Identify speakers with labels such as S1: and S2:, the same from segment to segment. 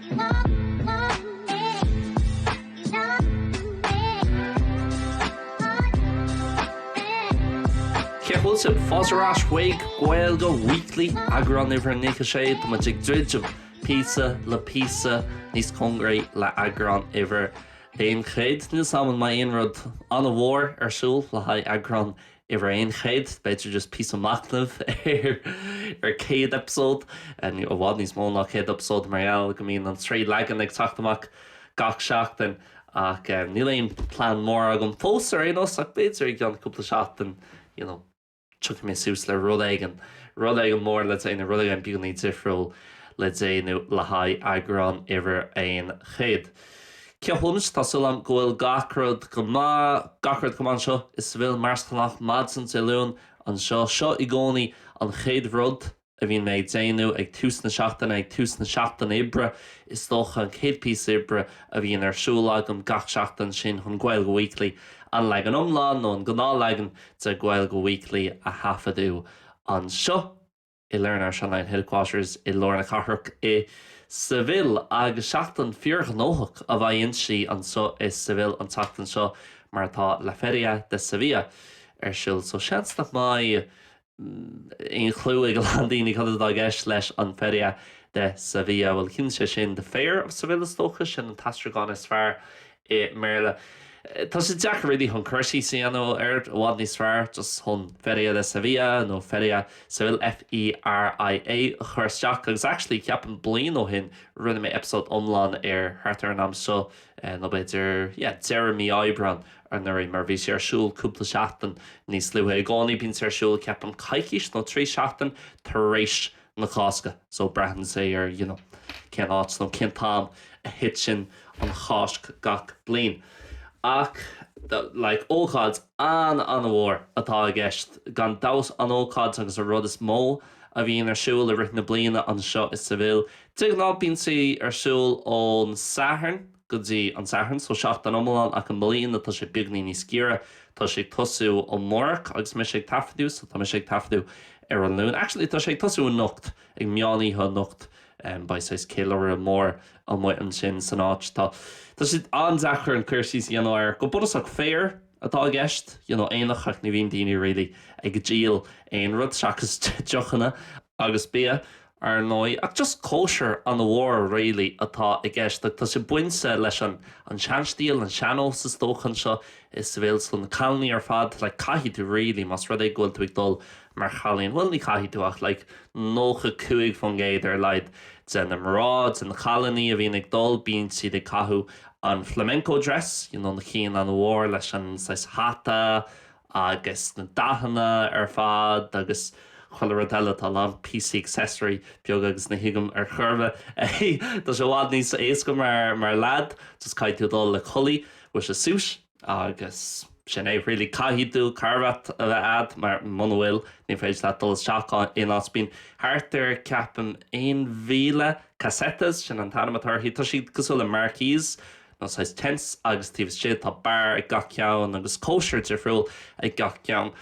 S1: Cén chaoi a bhfuil sibh? Fáilte ar ais chuig Gaeilge Weekly, eagrán uimhir 96. Tá muid ag druidim píosa le píosa níos cóngaraí le heagrán uimhir a haon chéad. Níl 's agam an mbeidh aon rud an-mhór ar siúl le haghaidh eagrán uimhir a haon chéad, b'fhéidir just píosa machnaimh ar chéad eipeasóid, i bhfad níos mó ná chéad eipeasóid mar gheall go mbíonn an trí leagan ag teacht amach gach seachtain ach níl aon plean mór agam fós ar aon nós ach b'fhéidir i gceann cúpla seachtain you know tiocfaidh mé suas le rud éigin, rud éigin mór le déanamh, rud éigin beagainín difriúil le déanamh le haghaidh eagrán uimhir a haon chéad. Cén chaoi a bhfuil sibh? Tá súil agam go bhfuil gach rud go maith, gach rud go maith anseo i Seville, mar is gnách, maidin Dé Luain anseo. Seo i gcónaí an chéad rud a bhíonn mé ag déanamh ag tús na seachtaine, ag tús na seachtaine oibre is dócha, an chéad píosa oibre a bhíonn ar siúl agam gach seachtain sin chun Gaeilge Weekly, an leagan iomlán nó an gnáthleagan de Gaeilge Weekly a thaifeadadh anseo. i Learn Irish Online Headquarters i lár na cathrach i Seville agus seachtain fíorghnóthach a bheidh inti anseo i Seville an tseachtain seo mar tá La Feria de Sevilla ar siúl so seans nach mbeidh aon chlue ag a lán daoine cad atá i gceist leis an Feria de Sevilla bhuel ciallaíonn sé sin The Fair of Seville is dócha sin an t-aistriúchán is fearr i mBéarla. Tá sé deacair really chun cur síos a dhéanamh air, i bhfad níos fearr just chun Feria de Sevilla nó Feria de Seville, F-e-r-i-a, a chur isteach agus actually ceapaim bliain ó shin rinne mé eipeasóid iomlán air thart ar an am seo nó b'fhéidir yeah deireadh mí Aibreán anuraidh mar bhí sé ar siúl cúpla seachtain níos luaithe. I gcónaí bíonn sé ar siúl ceapaim coicís nó trí seachtain tar éis an na Cásca so braitheann sé ar you know cén áit nó cén t-am a thiteann an Cháisc gach bliain ach like ócáid an-an-mhór atá i gceist gan dabht an ócáid agus an rud is mó a bhíonn ar siúl i rith na bliana anseo i Seville de ghnáth bíonn sí ar siúl ón Satharn go dtí an Satharn. So seachtain iomlán ach i mbliana tá sé beagáinín níos giorra. Tá sé ag tosú amárach agus mise ag taifeadadh so tá mise ag taifeadadh ar an Luan. Actually tá sé ag tosú anocht, ag meán oíche anocht. Beidh saghas céiliuradh mór amuigh ansin san áit. Tá sé an-deacair an cur síos a dhéanamh air. Go bunúsach fair atá i gceist, you know aonach ach ní bhíonn daoine really ag díol aon rud seachas deochanna agus bia, ar ndóigh, ach just cóisir ana mhór really atá i gceist agus tá sé bainte leis an an seanstíl, an seannós is dócha anseo i Seville so na cailíní ar fad like caithfidh tú really más rud é go bhfuil tú ag dul mar chailín bhuel ní caithfidh tú ach like nócha cúig fán gcéad ar a laghad de na mná, de na cailíní a bhíonn ag dul bíonn siad ag caitheamh an flamenco dress you know na cinn ana mhór leis an saghas hata agus na dathanna ar fad agus chuile rud eile, tá a lán píosaí accessory beaga agus ní thuigim ar chor ar bith é, tá sé i bhfad níos éasca mar leaid, just caithfidh tú dul le culaith bhfuil a fhios a'd, suit, agus sin é really, caithfidh tú carbhat a bheith a'd mar muna bhfuil ní féidir leat dul isteach in aon áit, bíonn thart ar ceapaim aon mhíle casetas, sin an t-ainm atá orthu, tá siad cosúil le marquees Nó saghas tents agus taobh istigh tá beár ag gach ceann agus cóisir difriúil ag gach ceann.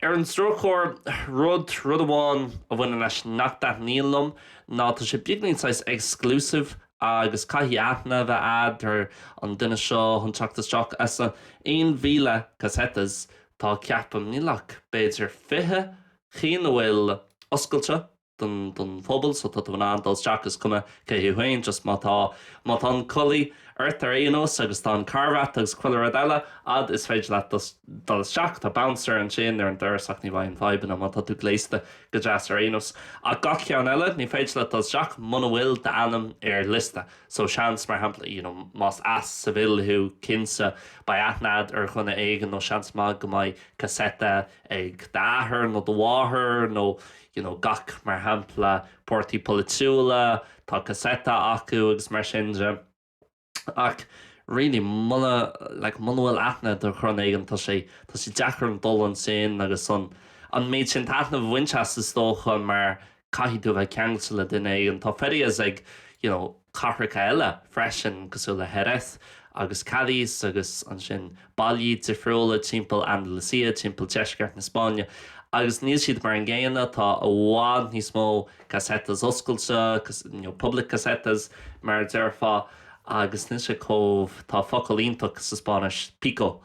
S1: Ar an drochuair, rud, rud amháin a bhaineann leis nach dtaitníonn liom ná tá sé beagnach saghas exclusive agus caithfidh aithne a bheith a'd ar an duine seo chun teacht isteach as a 1,000 casetas tá ceapaim níl ach b'fhéidir 20 chinn a bhfuil oscailte don don phobal so tá tú in ann dul isteach is cuma cé thú féin just má tá má tá an culaith ort ar aon nós agus tá an carbhat agus chuile rud eile a'd is féidir leat dul dul isteach tá bouncer ansin ar an doras ach ní bheidh aon fhadhbanna má tá tú gléasta go deas ar aon nós ach gach ceann eile ní féidir leat dul isteach muna bhfuil d'ainm ar liosta so seans mar shampla you know más as Seville thú cinnte beidh aithne a'd ar dhuine éigin nó seans maith go mbeidh caseta ag d'athair nó do mháthair nó you you know gach mar shampla páirtí polaitiúla tá caseta acu agus mar sin de ach really muna like muna bhfuil aithne a'd ar dhuine éigin tá sé tá sé deacair an dul ansin agus an an méid sin taitneamh a bhaint as is dócha mar caithfidh tú bheith ceangailte le duine éigin tá ferias ag you know cathracha eile freisin cosúil le Jerez agus Cádiz agus ansin bailí difriúla timpeall Andalucia, timpeall deisceart na Spáinne agus níl siad mar an gcéanna, tá i bhfad níos mó casetas oscailte, nó public casetas mar a déarfá agus níl sé chomh, tá focal iontach sa Spáinnis, pijo,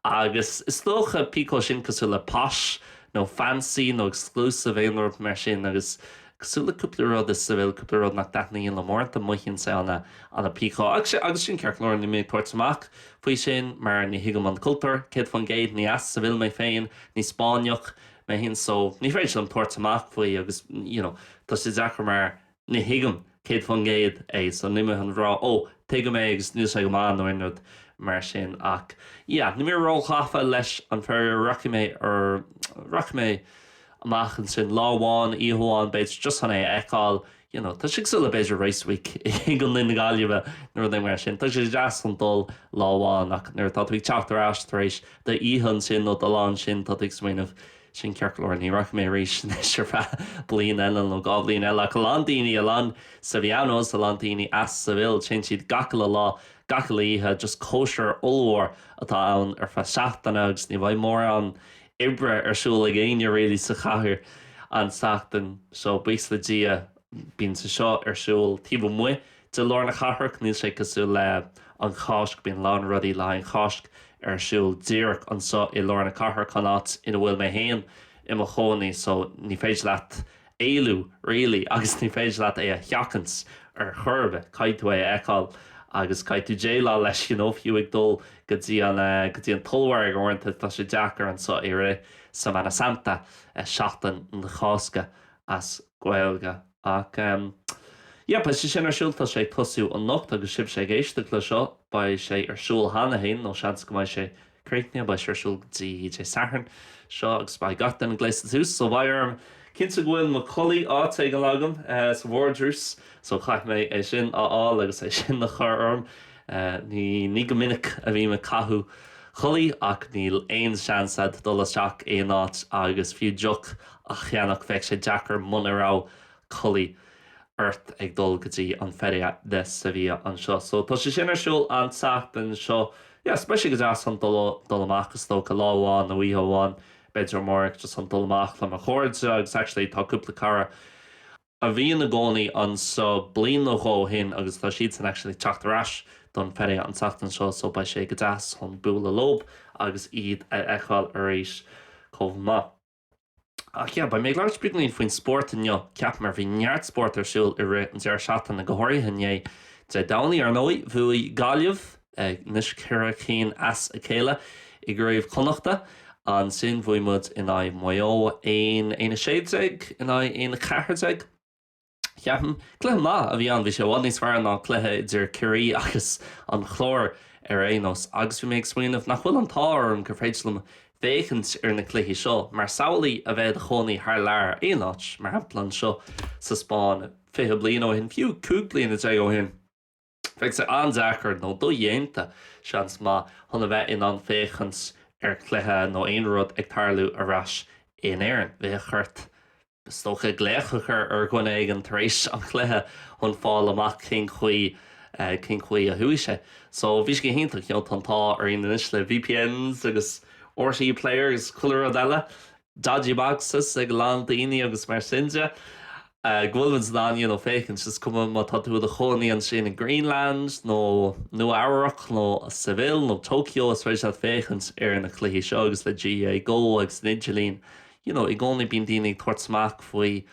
S1: agus is dócha pijo sin cosúil le posh nó fancy nó exclusive aon rud mar sin agus. Cosúil le cúpla rud i Seville cúpla rud nach dtaitníonn liom uaireanta mothaíonn sé ana pijo agus sin ceart go leor níl mé ag tabhairt amach faoi sin mar ní thuigim an cultúr 100% ní as Seville mé féin ní Spáinneach mé féin so ní féidir liom tabhairt amach faoi agus you know tá sé deacair mar ní thuigim 100% é so níl mé ag rá ó tuigim é agus níl sé go maith nó aon rud mar sin ach yeah níl mé ró ghafa leis an feria rachaidh mé ar rachaidh mé amach ansin. Lá amháin, oíche amháin, b'fhéidir, just chun é a fheiceáil. You know, tá sé cosúil le, b'fhéidir, Race Week i gContae na Gaillimhe nó rud éigin mar sin. Tá sé deas chun dul lá amháin ach nuair atá tú ag teacht ar ais tar éis d'oíche amach ansin nó do lá ansin, tá tú ag smaoineamh, Sin ceart go leor, ní rachaidh mé arís anois ar feadh bliain eile nó dhá bhliain eile. Ach a lán daoine, a lán Sevillanos, a lán daoine as Seville, téann siad gach uile lá, gach uile oíche, just cóisir ollmhór atá ann ar feadh seachtaine agus ní bheidh mórán oibre ar siúl ag éinne really sa chathair an tseachtain seo, buíochas le Dia. Bíonn sé seo ar siúl taobh amuigh de lár na cathrach, níl sé cosúil le an Cháisc, bíonn a lán rudaí le haghaidh an Cháisc ar siúl díreach anseo i lár na cathrach, an áit ina bhfuil mé féin i mo chónaí so ní féidir leat éalú really agus ní féidir leat é a sheachaint ar chor ar bith. Caithfidh tú é a fheiceáil agus caithfidh tú déileáil leis, you know, fiú ag dul go dtí an eh, go dtí an t-ollmhargadh uaireanta tá sé deacair anseo i rith Semana Santa, eh Seachtain na Cásca as Gaeilge. Ach em yeah beidh sé sin ar siúl, tá sé ag tosú anocht agus sibhse ag éisteacht le seo beidh sé ar siúl cheana fhéin nó seans go mbeidh sé Críochnaithe, beidh sé ar siúl go dtí Dé Sathairn seo agus beidh gach duine gléasta suas so beidh orm cinntiú go bhfuil mo culaith áit éigin agam sa vardrús so caithfidh mé é sin a fháil agus é sin a chur orm. Ní ní go minic a bhím ag caitheamh culaith ach níl aon seans a'd dul isteach aon áit agus fiú deoch a cheannach bheadh sé deacair muna raibh culaith ort ag dul go dtí an Feria de Sevilla anseo. So tá sé sin ar siúl an tseachtain seo. Yeah, so beidh sé go deas chun dul, dul amach is dócha, lá amháin nó oíche amháin b'fhéidir amárach just chun dul amach le mo chairde agus actually tá cúpla cara a bhí ina gcónaí anseo bliain nó dhó ó shin agus tá siadsan actually ag teacht ar ais don Feria an tseachtain seo so beidh sé go deas chun bualadh leob agus iad a fheiceáil arís chomh maith. Ach yeah, beidh mé ag labhairt príomha faoin spórt inniu, ceapaim, mar bhí neart spórt ar siúl i rith an deireadh seachtaine, go háirithe inné, Dé Domhnaigh, ar ndóigh, bhuaigh Gaillimh, anois ceithre cinn as a chéile, i gCraobh Chonnacht. Ansin bhuaigh muid in aghaidh Mhaigh Eo, aon, aon a sé déag in aghaidh aon a ceathair déag. Ceapaim, Cluiche maith a bhí ann, bhí sé i bhfad níos fearr ná cluiche idir Ciarraí agus an Clár ar aon nós agus bhí mé ag smaoineamh nach bhfuil an t-ádh orm gur féidir liom féachaint ar na cluichí seo mar samhlaigh a bheith i do chónaí thar lear aon áit, mar shampla anseo sa Spáinn, fiche bliain ó shin, fiú cúig bliana déag ó shin. Bheadh sé an-deacair, nó dodhéanta seans maith, chun a bheith in ann féachaint ar chluiche nó aon rud ag tarlú ar ais in Éirinn. Bheadh ort, is dócha, glaoch a chur ar dhuine éigin tar éis an chluiche chun fáil amach cén chaoi, cén chaoi a chuaigh sé. So, bhí sé go hiontach, you know, tá an t-ádh orainn anois le VPNs agus RTÉ Player agus chuile rud eile, dodgy boxes ag a lán daoine agus mar sin de. go bhfuil muid in ann you know féachaint, is cuma má tá tú i do chónaí ansin i Greenland nó Nua Eabhrac nó Seville nó Tokyo, is féidir leat féachaint ar na cluichí seo agus le GAA Go agus an idirlíon you know i gcónaí bíonn daoine ag tabhairt amach faoi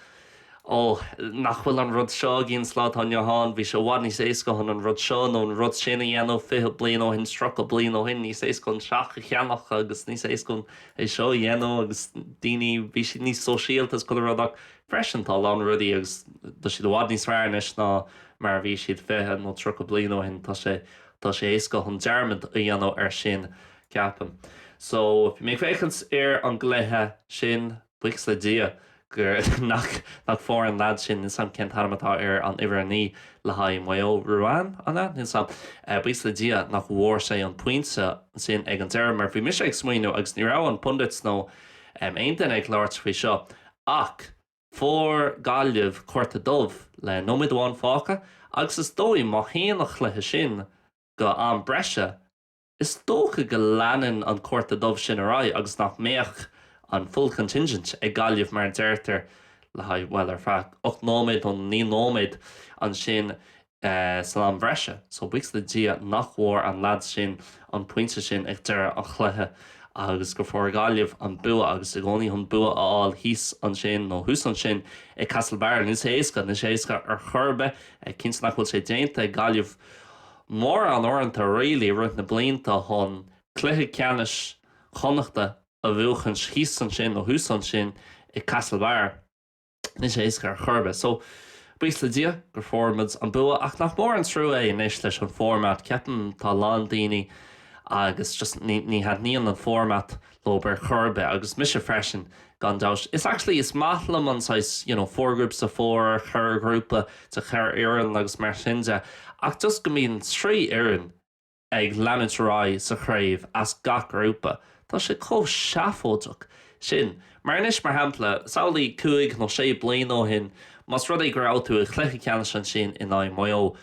S1: oh nach bhfuil an rud seo againn sa lá atá inniu ann, bhí sé i bhfad níos éasca chun an rud seo nó an rud sin a dhéanamh fiche bliain ó shin, tríocha bliain ó shin, níos éasca chun teach a cheannach agus níos éasca chun é seo a dhéanamh agus daoine bhí siad níos sóisialta is chuile rud ach Freisin, tá a lán rudaí agus tá siad i bhfad níos fearr anois ná mar a bhí siad fiche nó tríocha bliain ó shin. Tá sé, tá sé éasca chun dearmad a dhéanamh ar sin, ceapaim. So, bhí mé ag féachaint ar an gcluiche sin, buíochas le Dia gur, nach, nach bhfuair an leaid sin, níl 's a'm cén t-ainm atá ar an uimhir a naoi le haghaidh Maigh Eo, Ruane, an ea? Níl 's a'm. Buíochas le Dia nach bhfuair sé an pointe sin ag an deireadh mar bhí mise ag smaoineamh agus ní raibh na pundits nó aon duine ag labhairt faoi seo Ach fuair Gaillimh cárta dubh le nóiméad amháin fágtha agus is dóigh má théann an cluiche sin go am breise, is dócha go leanann an cárta dubh sin ar aghaidh agus nach mbeadh an 'full contingent' ag Gaillimh mar a deirtear le haghaidh, bhuel, ar feadh ocht nóiméad nó naoi nóiméad ansin. san am bhreise so buíochas le Dia nach bhfuair an leaid sin an pointe sin ag deireadh an chluiche agus gur fuair Gaillimh an bua agus i gcónaí chun bua a fháil thíos ansin nó thuas ansin i Castlebar níl sé éasca, níl sé éasca ar chor ar bith. Cinnte nach bhfuil sé déanta ag Gaillimh mórán uaireanta really i rith na blianta chun cluiche ceannais Chonnachta a bhuachaint thíos ansin nó thuas ansin i Castlebar. Níl sé éasca ar chor ar bith. So, buíochas le Dia gur fuair muid an bua ach nach mór an trua é anois leis an format. Ceapaim tá a lán daoine agus just ní, ní thaitníonn an format leob ar chor ar bith agus mise freisin gan dabht. Is actually is maith liom an saghas you know four groups of four, ceithre ghrúpa de cheithre fhoireann agus mar sin de ach just go mbíonn trí fhoireann, ag leanúint ar aghaidh sa chraobh as gach grúpa. Tá sé chomh seafóideach sin mar anois, mar shampla, samhlaigh cúig nó sé bliana ó shin, más rud é go raibh tú i gcluiche ceannais ansin in aghaidh Maigh Eo,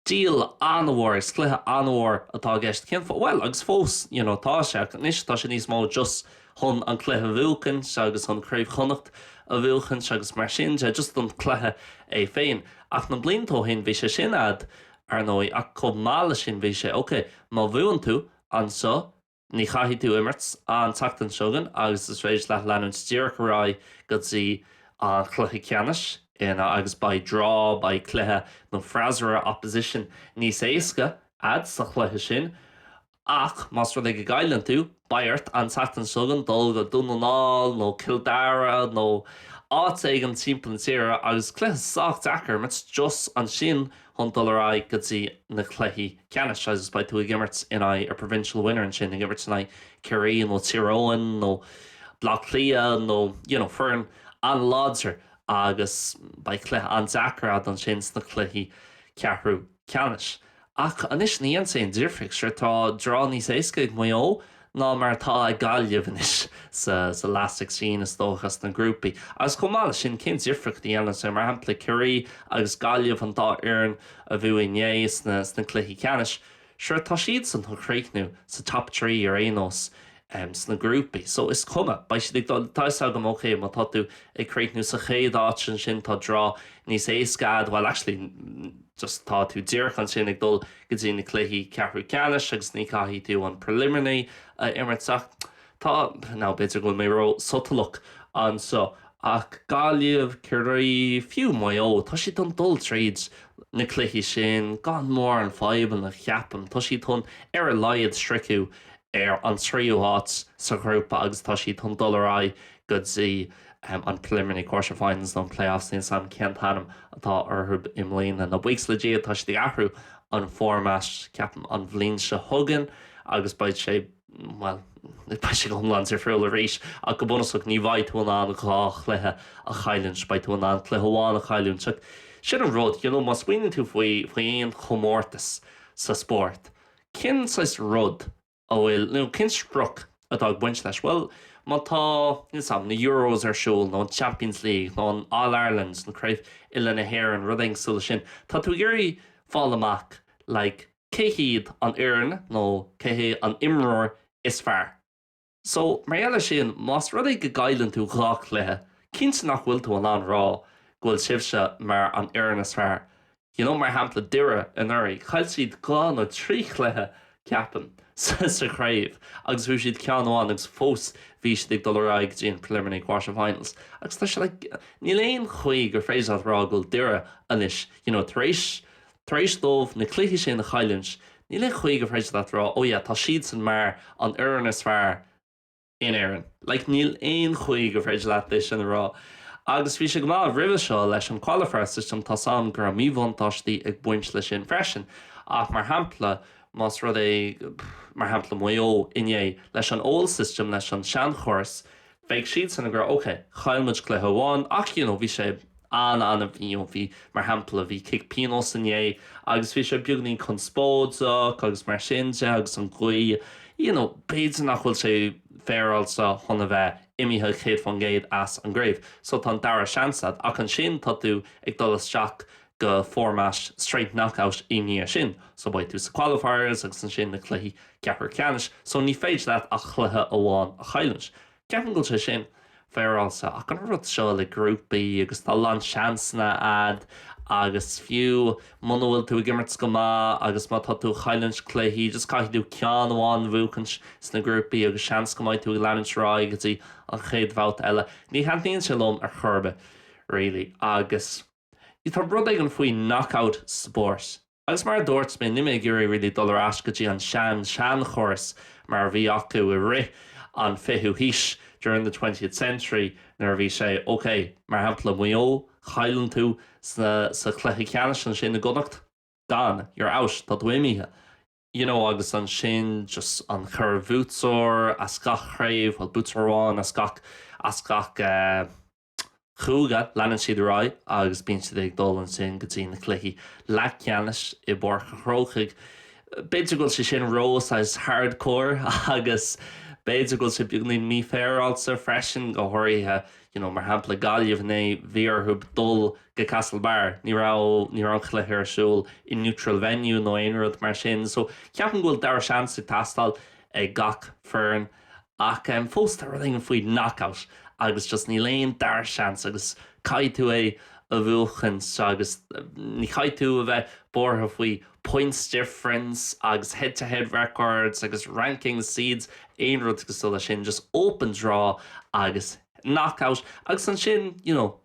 S1: deal an-mhór, is cluiche an-mhór atá i gceist, cén fáth? Bhuel, agus fós, you know, tá sé, ach anois tá sé níos mó just chun an cluiche a bhuachaint agus chun Craobh Chonnacht a bhuachaint agus mar sin de, just an cluiche é féin. Ach na blianta ó shin bhí sé sin a'd. ar ndóigh, ach chomh maith leis sin bhí sé ok má bhuann tú anseo, ní chaithfidh tú imirt an tseachtain seo chugainn agus is féidir leat leanúint díreach ar aghaidh go dtí an chluiche ceannais agus beidh draw, beidh cluiche nó freasúra, opposition, níos éasca a'd sa chluiche sin. Ach más rud é go gcailleann tú, beidh ort an tseachtain seo chugainn dul go Dún na nGall nó Cill Dara nó áit éigin timpeall na tíre agus cluiche sách deacair a imirt just ansin chun dul ar aghaidh go dtí na cluichí ceannais agus beidh tú ag imirt in aghaidh a provincial winner ansin, ag imirt in aghaidh Ciarraí nó Tír Eoghain nó Baile Átha Cliath nó you know foireann an-láidir agus beidh cluiche an-deacair a'd ansin sna cluichí ceathrú. ceannais. Ach anois ní dhéanann sé difríocht. Sure tá draw níos éasca ag Maigh Eo ná mar atá ag Gaillimh anois sa last sixteen is dócha sna grúpaí. Agus chomh maith leis sin cén difríocht a dhéanann sé mar shampla Ciarraí agus Gaillimh an dá fhoireann a bhuaigh inné sna cluichí ceannais? Sure tá siadsan chun críochnú sa top three ar aon nós. sna grúpaí. So is cuma, beidh siad ag dul, tá 'fhios agam, ok, má tá tú ag críochnú sa chéad áit ansin tá draw níos éasca a'd, bhuel actually just tá tú díreach ansin ag dul go dtí na cluichí ceathrú ceannais agus ní chaithfidh tú an preliminary a imirt ach tá, now b'fhéidir go bhfuil mé ró sotalach anseo Ach Gaillimh, Ciarraí, fiú Maigh Eo, tá siad chun dul tríd na cluichí sin gan mórán fadhbanna, ceapaim. Tá siad chun, ar a laghad, críochnú ar an tríú háit sa ghrúpa agus tá siad chun dul ar aghaidh go dtí an Preliminary Quarterfinals nó an Playoffs, níl 's agam cén t-ainm atá orthu i mbliana. Now buíochas le Dia, tá siad ag athrú an format, ceapaim, an bhliain seo chugainn agus beidh sé. bhuel, beidh sé go hiomlán difriúil arís ach go bunúsach ní bheidh tú in ann dhá chluiche a chailliúint, beidh tú in ann cluiche amháin a chailliúint ach sin an rud, you know, má smaoiníonn tú faoi, faoi aon chomórtas sa spórt, cén saghas rud a bhfuil, nó cén sprioc atá ag baint leis? Bhuel, má tá, níl 's agam, na Euros ar siúl nó an Champions League nó an All-Ireland, nó Craobh Uile na hÉireann, rud éigin cosúil leis sin, tá tú ag iarraidh fáil amach, like, Cé hiad an fhoireann nó cé hé an imreoir is fearr? So, mar gheall ar sin, más rud é go gcailleann tú dhá chluiche, cinnte nach bhfuil tú in ann rá go bhfuil sibhse mar an fhoireann is fearr. You know, mar shampla Doire anuraidh, chaill siad dhá nó trí chluiche, ceapaim, sa chraobh agus bhuaigh siad ceann amháin agus fós bhí siad ag dul ar aghaidh go dtí an preliminary quarterfinals agus tá sé like, níl aon chaoi gur féidir leat rá go bhfuil Doire anois, you know, tar éis. Tar éis dóibh na cluichí sin a chailliúint, níl aon chaoi go bhféidir leat a rá, oh yeah, tá siadsan mar an fhoireann is fearr in Éirinn. Like, níl aon chaoi go bhféidir leat é sin a rá. Agus bhí sé go maith roimhe seo leis an qualifier system, tá's a'm go raibh míbhuntáistí ag baint leis sin freisin, ach mar shampla, más rud é, mar shampla Maigh Eo inné, leis an old system, leis an seanchóras, Bheadh siadsan ag rá, OK, chaill muid cluiche amháin ach you know bhí sé an-, you know bhí, mar shampla, bhí cic pionóis inné agus bhí sé beagainín conspóideach agus mar sin de agus an ghaoth, you know b'fhéidir nach bhfuil sé féaráilte chun a bheith imithe céad faoin gcéad as an gcraobh. So tá an dara seans agat ach ansin tá tú ag dul isteach go format straight knockout i ndiaidh sin so beidh tú sa qualifiers agus ansin na cluichí ceathrú ceannais so ní féidir leat ach cluiche amháin a chailliúint. Ceapaim go bhfuil sé sin féaráilte ach an rud seo le grúpaí agus tá a lán seansanna a'd agus fiú muna bhfuil tú ag imirt go maith agus má tá tú ag chailliúint cluichí just caithfidh tú ceann amháin a bhuachaint sna grúpaí agus seans go mbeidh tú ag leanúint ar aghaidh go dtí an chéad bhabhta eile. Ní thaitníonn sé liom ar chor ar bith really agus. Sea, tá rud éigin faoi knockout sport. Agus mar a dúirt mé, níl mé ag iarraidh really dul ar ais go dtí an sean-seanchóras mar a bhí acu i rith an 20ú haois, during the twentieth century, nuair a bhí sé, ok, mar shampla, Maigh Eo, chailleann tú sa chluiche ceannais ansin i gConnacht, gone, you're out, tá tú imithe. You know, agus ansin just an cheithre bhuaiteoir as gach craobh, well buaiteoir amháin as gach, as gach eh, Chúige, leanann siad ar aghaidh agus bíonn siad ag dul ansin go dtí na cluichí leathcheannais i bPáirc an Chrócaigh. B'fhéidir go bhfuil sé sin ró saghas hardcore agus b'fhéidir go bhfuil sé beagainín mífhéaráilte freisin, go háirithe you know mar shampla Gaillimh inné bhí orthu dul go Castlebar, ní raibh, ní raibh an cluiche ar siúl i neutral venue nó aon rud mar sin so ceapaim go bhfuil dara seans ag teastáil ag gach foireann. Ach fós tá rud éigin faoi knockout agus just níl aon dara seans agus caithfidh tú é a bhuachaint agus ní chaithfidh tú a bheith buartha faoi points difference agus head to head records agus rankings, seeds, aon rud cosúil leis sin, just open draw agus knockout agus ansin, you know.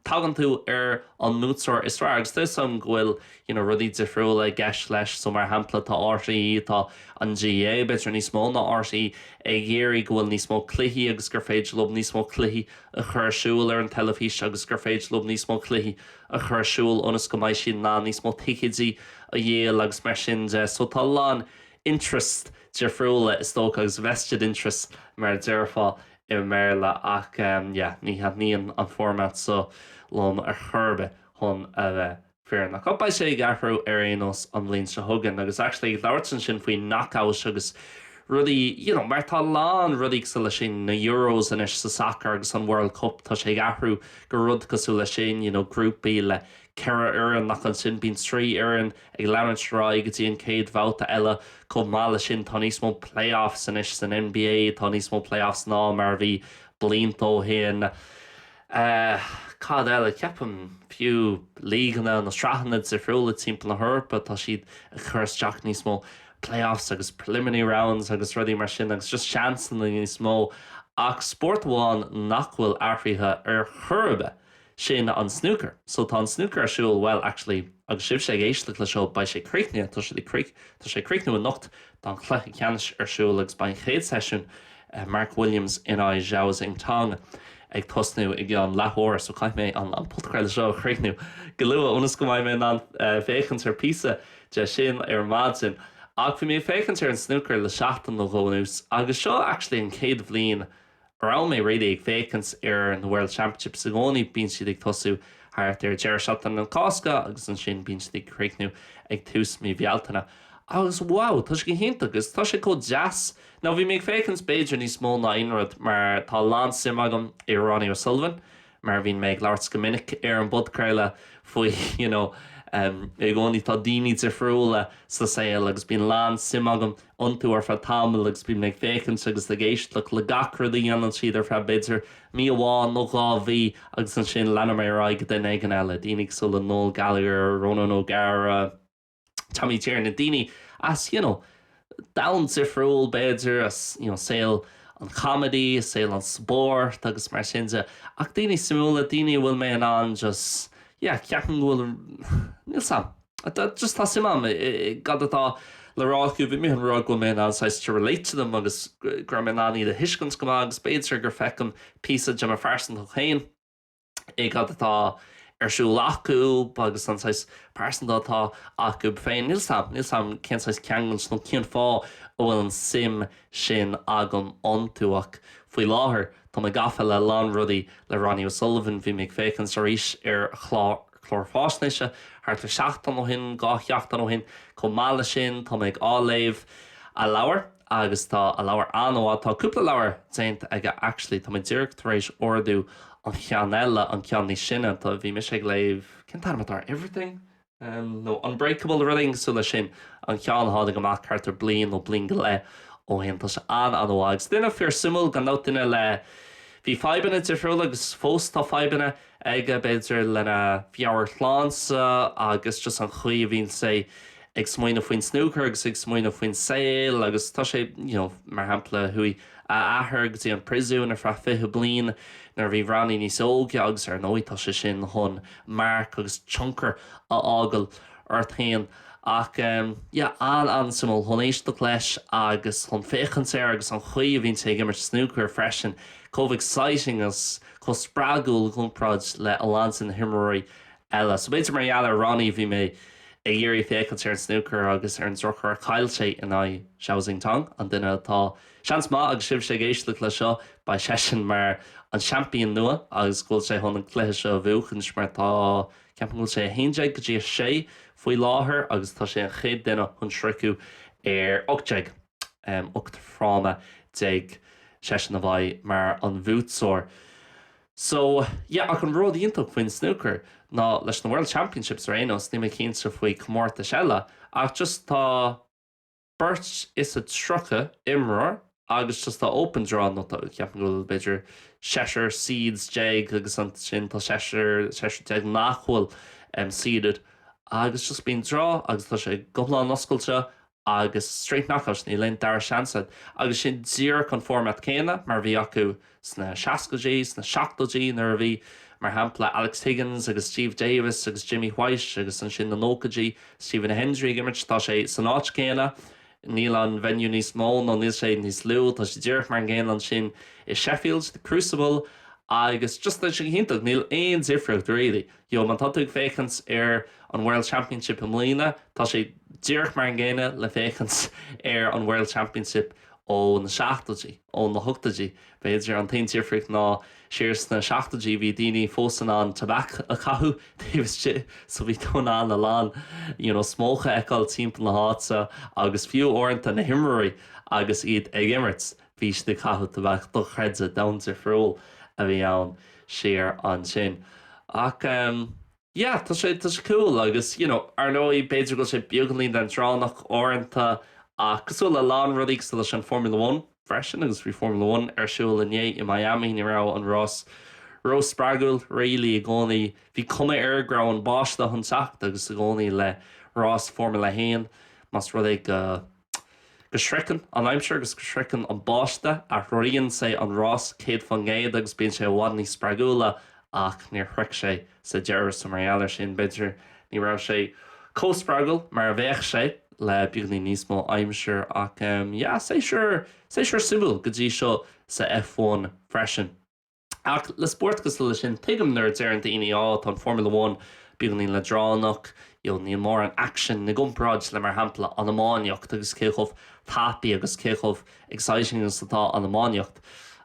S1: Tagann tú ar an mbuaiteoir is fearr agus tá's a'm go bhfuil you know rudaí difriúla i gceist leis. So mar shampla tá RTÉ, tá an GAA b'fhéidir níos mó ná RTÉ ag iarraidh go bhfuil níos mó cluichí agus gur féidir leo níos mó cluichí a chur ar siúl ar an teilifís agus gur féidir leo níos mó cluichí a chur ar siúl ionas go mbeidh siad in ann níos mó ticéidí a dhíol agus mar sin de. So tá a lán interests difriúla is dócha agus vested interests mar a déarfá i mBéarla ach yeah ní thaitníonn an format seo liom ar chor ar bith chun a bheith fírinneach. Ach beidh sé ag athrú ar aon nós an bhliain seo chugainn agus actually ag labhairt ansin faoi knockouts agus rudaí you know mar tá a lán rudaí cosúil leis sin, na Euros anois sa sacar agus an World Cup tá sé ag athrú go rud cosúil leis sin, you know grúpaí le ceithre fhoireann ach ansin bíonn trí fhoireann. Ag leanúint ar aghaidh go dtí an chéad bhabhta eile, chomh maith leis sin tá níos mó playoffs anois san NBA, tá níos mó playoffs ná mar a bhí blianta ó shin. Cad eile? Ceapaim fiú lígeanna nó sraitheanna difriúla timpeall na hEorpa, tá siad ag cur isteach níos mó playoffs agus preliminary rounds agus rudaí mar sin agus just seansanna níos mó. Ach spórt amháin nach bhfuil athraithe ar chor ar bith, Sin an snúcar. So tá an snúcar ar siúl, bhuel, actually, agus sibhse ag éisteacht le seo, beidh sé críochnaithe, tá sé críoch, tá sé ag críochnú anocht, tá an cluiche ceannais ar siúl agus beidh an chéad seisiún, Mark Williams in aghaidh Zhao Xintong, ag tosnú i gceann leath uair. So caithfidh mé an podchraoladh seo a chríochnú go luath ionas go mbeidh mé in ann féachaint ar píosa de sin ar maidin. Ach bhí mé ag féachaint ar an snúcar le seachtain nó dhó anuas agus seo actually an chéad bhliain a raibh mé really ag féachaint ar na World Championships, i gcónaí, bíonn siad ag tosú thart ar deireadh sheachtain na Cásca agus ansin bíonn siad ag críochnú ag tús mí Bhealtaine. Agus wow, tá sé go hiontach agus tá sé chomh deas, nó bhí mé ag féachaint b'fhéidir níos mó ná aon rud mar tá a lán suim agam i Ronnie O'Sullivan, mar bhíonn mé ag labhairt go minic ar an bpodchraoladh faoi you know i gcónaí tá daoine difriúla sa saol agus bíonn lán suim agam iontu ar feadh tamaill agus bíonn mé ag féachaint agus ag éisteacht le gach rud a dhéanann siad ar feadh b'fhéidir mí amháin nó dhá mhí agus ansin leanann mé ar aghaidh go duine éigin eile, daoine cosúil le Noel Gallagher, Ronan O'Gara. Tommy Tiernan, daoine as you know domhan difriúil b'fhéidir, as you know saol an comedy, saol an spóirt agus mar sin de ach daoine suimiúla, daoine a bhfuil mé in ann just yeah ceapaim go bhfuil níl 's a'm just tá suim a'm i gcad atá le rá acu, bhí mé ag rá go bhfuil mé in ann saghas to relate to them agus go raibh mé in ann iad a thuiscint go maith agus b'fhéidir gur feicim píosa de mo phearsantacht féin i gcad atá ar siúl acu agus an saghas pearsanta atá acu féin. Níl 's a'm cén saghas ceangailt nó cén fáth a bhfuil an suim sin agam iontu ach faoi láthair tá mé gafa le lán rudaí le Ronnie O'Sullivan. Bhí mé ag féachaint arís ar a chlár faisnéise thart ar sheachtain ó shin, dhá sheachtain ó shin. Chomh maith le sin tá mé ag á léamh a leabhar. agus tá an leabhar an-mhaith. Tá cúpla leabhar déanta aige actually. Tá mé díreach tar éis ordú an cheann eile, an ceann níos sine. Tá, bhí mise ag léamh, cén t-ainm atá air Everything? nó Unbreakable rud éigin cosúil leis sin. An ceann a tháinig amach thart ar bliain nó bliain go leith ó shin. Tá sé an-an-mhaith. Agus duine fíor suimiúil gan dabht, duine le, bhí fadhbanna difriúla agus fós tá fadhbanna, aige b'fhéidir lena mheabhairshláinte agus just an chaoi a bhíonn sé ag smaoineamh faoin snúcar agus ag smaoineamh faoin saol agus tá sé, you know, mar shampla, chuaigh a athair go dtí an priosún ar feadh 20 bliain nuair a bhí Ronnie níos óige agus ar ndóigh tá sé sin chun marc agus tionchar a fhágail ort féin ach ehm, yeah, an-an-suimiúil chun éisteacht leis agus chun féachaint air agus an chaoi a bhíonn sé ag imirt snúcair freisin, chomh exciting agus. chomh spreagúil i gcomparáid le a lán de na himreoirí eile. So b'fhéidir mar gheall ar Ronnie a bhí mé ag iarraidh féachaint ar an snúcar agus ar an drochuair chaill sé in aghaidh Zhao Xintong, an duine atá, seans maith agus sibhse ag éisteacht leis seo, beidh seisean mar an champion nua agus go bhfuil sé chun an cluiche seo a bhuachaint mar tá, ceapaim go bhfuil sé 11 go dtí 6 faoi láthair agus tá sé an chéad duine chun sroicheadh ar 18. 8 fráma déag seisean a bheidh mar an bhuaiteoir so yeah ach an rud iontach faoin snúcar ná leis na World Championships ar aon nós níl mé cinnte faoi comórtais eile ach just tá beirt is a tríocha imreoir agus just tá open draw nó tá ceapaim go bhfuil b'fhéidir seisear seeds déag agus ansin tá seisear seisear déag nach bhfuil em seeded agus just bíonn draw agus tá sé go hiomlán oscailte agus straight knockouts, níl aon dara seans ann agus sin díreach an format céanna mar a bhí acu sna seascaidí, sna seachtóidí nuair a bhí, mar shampla, Alex Higgins agus Steve Davis agus Jimmy White agus ansin na nóchaidí, Stephen Hendry ag imirt, tá sé san áit céanna. Níl an venue níos mó nó níl sé níos lú, tá sé díreach mar an gcéanna ansin i Sheffield, The Crucible agus just tá sé go hiontach, níl aon difríocht really. You know, má tá tú ag féachaint ar an World Championship i mbliana, tá sé díreach mar an gcéanna le féachaint ar an World Championship ó na seachtóidí, ó na hochtóidí b'fhéidir. An t-aon difríocht ná siar sna seachtóidí bhí daoine fós in ann tabac a chaitheamh taobh istigh so bhí tú in ann a lán you know smoke a fheiceáil timpeall na háite agus fiú uaireanta na himreoirí agus iad ag imirt, bhí siad ag caitheamh tobac dochreidte domhain difriúil a bhí ann siar ansin ach em yeah tá sé tá sé cool agus you know ar ndóigh b'fhéidir go bhfuil sé beagáinín leandránach uaireanta ach cosúil le a lán rudaí cosúil leis an Formula One freisin agus bhí Formula One ar siúl inné i Miami ní raibh an rás ró spreagúil really i gcónaí bhí cuma air go raibh an báisteach chun teacht agus i gcónaí le rás Formula 1 más rud é go Go sroicheann an aimsir agus go sroicheann an báiste, athraíonn sé an rás céad faoin gcéad agus bíonn sé i bhfad níos spreagúla ach níor shroich sé sa deireadh so mar gheall ar sin b'fhéidir ní raibh sé chomh spreagúil mar a bheadh sé le beagáinín níos mó aimsir ach yeah séasúr séasúr suimiúil go dtí seo sa F1 freisin. Ach le spórt cosúil le sin, tuigim nuair a deireann daoine, Á, tá an Formula One beagáinín leadránach, you know, níl mórán action i gcomparáid le, mar shampla, an iománaíocht agus cé chomh tapaidh agus cé chomh exciting agus atá an iománaíocht.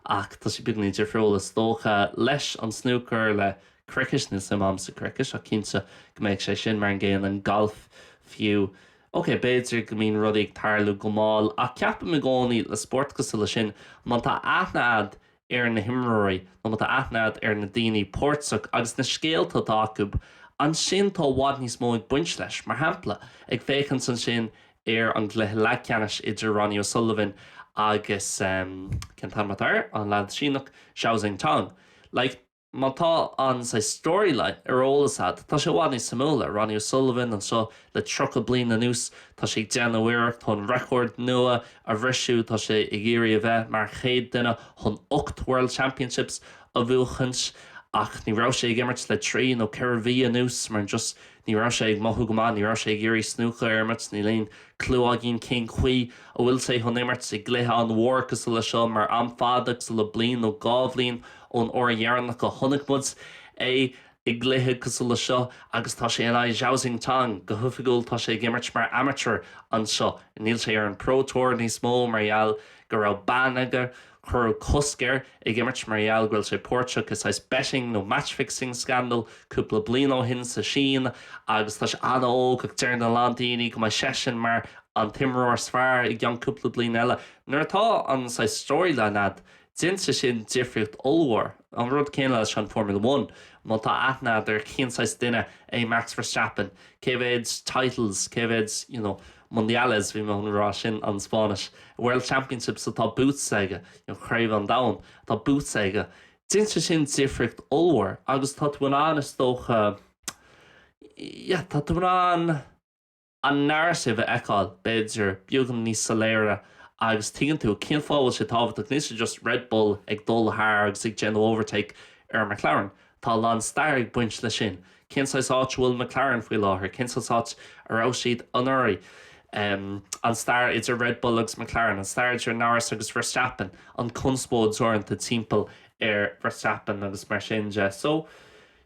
S1: Ach tá sé beagáinín difriúil, is dócha, leis an snúcar, le cricket, níl suim a'm sa gcricket ach cinnte go mbeidh sé sin mar an gcéanna, an galf fiú. Ok, b'fhéidir go mbíonn rudaí ag tarlú go mall ach ceapaim i gcónaí le spórt cosúil le sin, má tá aithne a'd ar na himreoirí nó má tá aithne agat ar na daoine páirteach agus na scéalta atá acu, ansin tá i bhfad níos mó ag baint leis. Mar shampla, ag féachaint ansin ar an gcluiche leathcheannais idir Ronnie O'Sullivan agus, cén t-ainm atá air, an leaid Síneach, Zhao Xintong, like, Má tá an saghas storyline ar eolas agat, tá sé i bhfad níos suimiúla Ronnie O'Sullivan anseo le 30 bliain anuas. Tá sé ag déanamh iarracht chun record nua a bhriseadh, tá sé ag iarraidh a bheith mar chéad duine chun ocht World Championships a bhuachaint ach ní raibh sé ag imirt le trí nó ceithre mhí anuas mar just Ní raibh sé ag mothú go maith, ní raibh sé ag iarraidh snúcar a imirt, níl aon chlue againn cén chaoi a bhfuil sé chun imirt i gcluiche an-mhór cosúil le seo mar am fada cosúil le bliain nó dhá bhliain ón uair dheireanach a chonaic muid é i gcluiche cosúil le seo agus tá sé in aghaidh Zhao Xintong, go hoifigiúil tá sé ag imirt mar amateur anseo, níl sé ar an Pro Tour níos mó mar gheall go raibh ban aige. Cuireadh cosc air ag imirt mar gheall go raibh sé páirteach i saghas betting nó match-fixing scandal cúpla bliain ó shin sa tSín agus tá sé an-óg ach deireann a lán daoine go mbeidh seisean mar an t-imreoir is fearr i gceann cúpla bliain eile. Nuair atá an saghas storyline agat, déanann sé sin difríocht ollmhór. An rud céanna leis an Formula One, má tá aithne agat ar cén saghas duine é Max Verstappen, cé mhéad titles, cé mhéad, you know, Mundiales, bhí mé chun a rá, sin an Spáinnis. World Championships atá boots aige, nó Craobh an Domhain atá boots aige. Déanann sé sin difríocht ollmhór agus tá tú in ann, is dócha, yeah, tá tú in ann an narrative a fheiceáil, b'fhéidir, beagán níos soiléire agus tuigeann tú cén fáth a bhfuil sé tábhachtach. Níl sé just Red Bull ag dul thar agus ag déanamh overtake ar McLaren. Tá a lán stair ag baint leis sin. Cén saghas áit a bhfuil McLaren faoi láthair? Cén saghas áit a raibh siad anuraidh? An stair idir Red Bull agus McLaren? An stair idir Norris agus Verstappen? An conspóid uaireanta timpeall ar Verstappen agus mar sin de. So,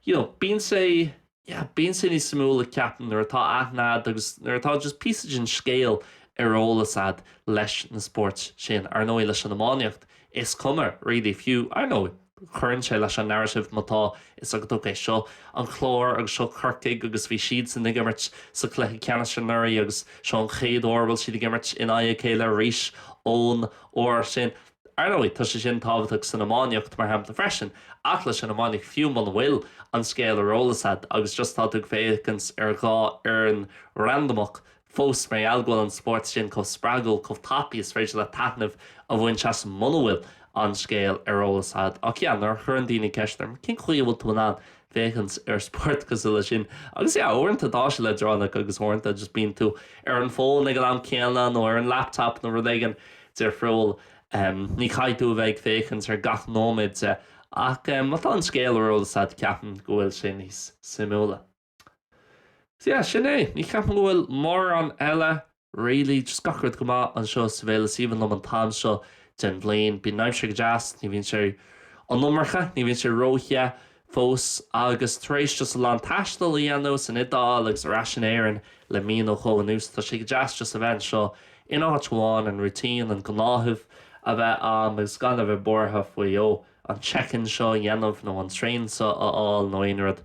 S1: you know, bíonn sé. yeah bíonn sé níos suimiúla ceapaim nuair atá aithne a'd agus nuair atá just píosa den scéal ar eolas a'd leis na spóirt sin. Ar ndóigh leis an iománaíocht is cuma really fiú ar ndóigh cuireann sé leis an narrative má tá 'fhios agat ok seo an Clár agus seo Corcaigh agus bhí siadsan ag imirt sa cluiche ceannais anuraidh agus seo an chéad uair a bhfuil siad ag imirt in aghaidh a chéile arís ón uair sin. Ar ndóigh, tá sé sin tábhachtach san iománaíocht, mar shampla, freisin, ach leis an iománaíocht, fiú muna bhfuil an scéal ar eolas a'd agus just tá tú ag féachaint ar dhá fhoireann randamach, fós, mar gheall go bhfuil an spórt sin chomh spreagúil, chomh tapaidh, is féidir leat taitneamh a bhaint as muna bhfuil an scéal ar eolas a'd. Ach yeah, nuair a chuireann daoine ceist orm, cén chaoi a bhfuil tú in ann féachaint ar spórt cosúil leis sin agus yeah uaireanta tá sé leadránach agus uaireanta just bíonn tú ar an bhfón ag an am céanna nó ar an laptop nó rud éigin difriúil em ní chaithfidh tú a bheith ag féachaint ar gach nóiméad de ach em má tá an scéal ar eolas a'd ceapaim go bhfuil sé níos suimiúla so yeah sin é ní cheapaim go bhfuil mórán eile Really, just gach rud go maith anseo sa bhaile is aoibhinn liom an t-am seo den bhliain. Bíonn an aimsir go deas, ní bhíonn sé an iomarca, ní bhíonn sé ró-the fós agus tar éis just a lán taistil a dhéanamh san Iodáil agus ar ais in Éirinn le mí nó dhó anuas tá sé go deas just a bheith anseo in áit amháin, an routine, an gnáthamh a bheith a'am agus gan a bheith buartha faoi oh an check-in seo a dhéanamh nó an traein seo a fháil nó aon rud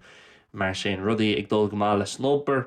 S1: mar sin. Rudaí ag dul go maith leis an obair.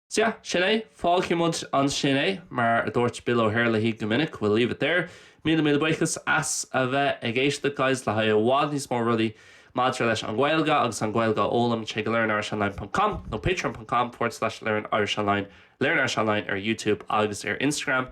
S1: Sea, sin é. Fágfaidh muid ansin é. Mar a dúirt Bill O'Herlihy go minic, we'll leave it there. Míle míle buíochas as a bheith ag éisteacht, guys, le haghaidh i bhfad níos mó rudaí maidir leis an Ghaeilge agus an Ghaeilge a fhoghlaim, téigh go learnirishonline.com nó patreon.com forward slash learnirishonline, Learn Irish Online ar YouTube agus ar Instagram.